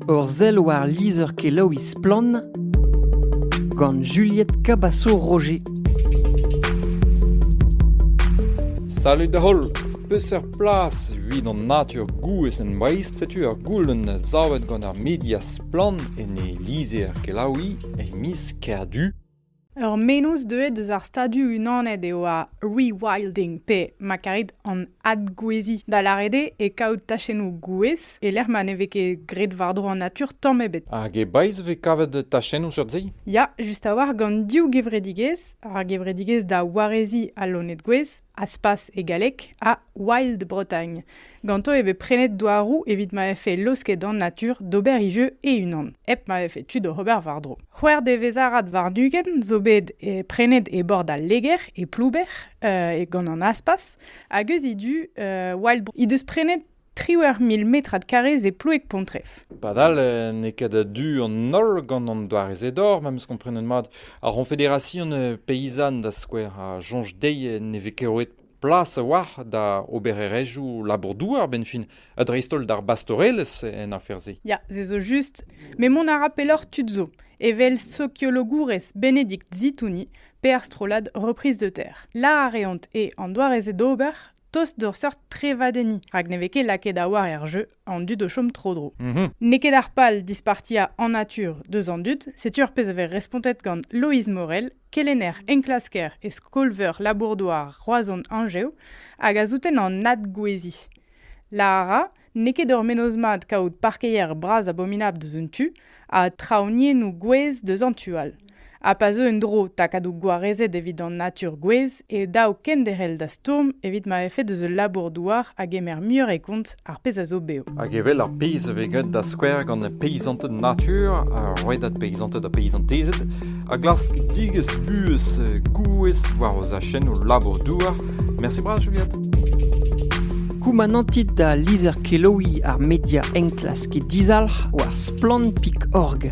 Ur sell war lizher-kelaouiñ Splann! gant Juliette Cabaço-Roger. Salut da holl! Peseurt plas evit an natur gouez en Breizh? Setu ur goulenn savet gant ar media Splann en e lizher-kelaouiñ e miz Kerdu. Ur mennozh deuet eus ar Stadoù-Unanet eo ar rewilding pe, ma karit, an adgouezhiñ, da lâret eo e kaout tachennoù gouez e-lec'h ma ne vez ket graet war-dro an natur tamm ebet. Hag e Breizh e vez kavet tachennoù seurt-se? Ya, just a-walc'h gant div gevredigezh, ar gevredigezh da wareziñ al loened-gouez Aspas e galleg, ha Wild Bretagne. Ganto e vez prenet douaroù evit ma vefe laosket an natur d'ober e jeu e-unan, hep ma vefe tu d'ober war-dro. C'hwec'h devezh-arad war-ugent zo bet e prenet e bord al Leger, e Plouber, uh, gant an Aspas, hag eus he du, uh, Wild Bretagne he deus prenet triwec'h mil metrad karrez e Ploueg-Pontrev. Padal eh, n'eo ket a-du an holl gant an doare-se d'or, memes komprenet mat. Ar C'honfederasion eh, Peyzan, da skouer, a soñj dezhi ne vez ket roet plas a-walc'h da obererezhioù labour-douar, ben fin, ha dreist-holl d'ar bastorelezh en afer-se. Ya, se zo just. Mais mont a ra pelloc'h tud zo, evel sokiologourez Bénédicte Zitouni, pe ar strollad Reprise de terre. La a reont e an doare-se d'ober, tost d'ur seurt trevadenniñ, rak ne vez ket lakaet a-walc'h er jeu an dud o chom tro-dro. Mhm. N'eo ket ar pal dispartiañ en natur deus an dud, setu ar pezh a vez respontet gant Loeiz Morel, kelenner enklasker e skol-veur labour-douar Roazhon Anjev, hag a souten an adgouezhiñ. Lara, N'eo ket ur mennozh mat kaout parkeier bras abominabl deus un tu ha traoñiennoù gouez deus an tu all. Ha pa zeu en-dro takadoù gwarezet evit an natur gouez e dav kenderc'hel da stourm evit ma vefe deus ul labour-douar a gemer muioc'h e kont ar pezh a zo bev. Hag evel ar pezh a vez graet da skouer gant peisanted natur, ar rouedad peisanted ha peizantezed, a glask digesk vuhez gouez war o zachennoù labour-douar. Mersi bras, Juliette. Koumanantit da lizher-kelaouiñ ar media enklask dizalc'h war Splann.org.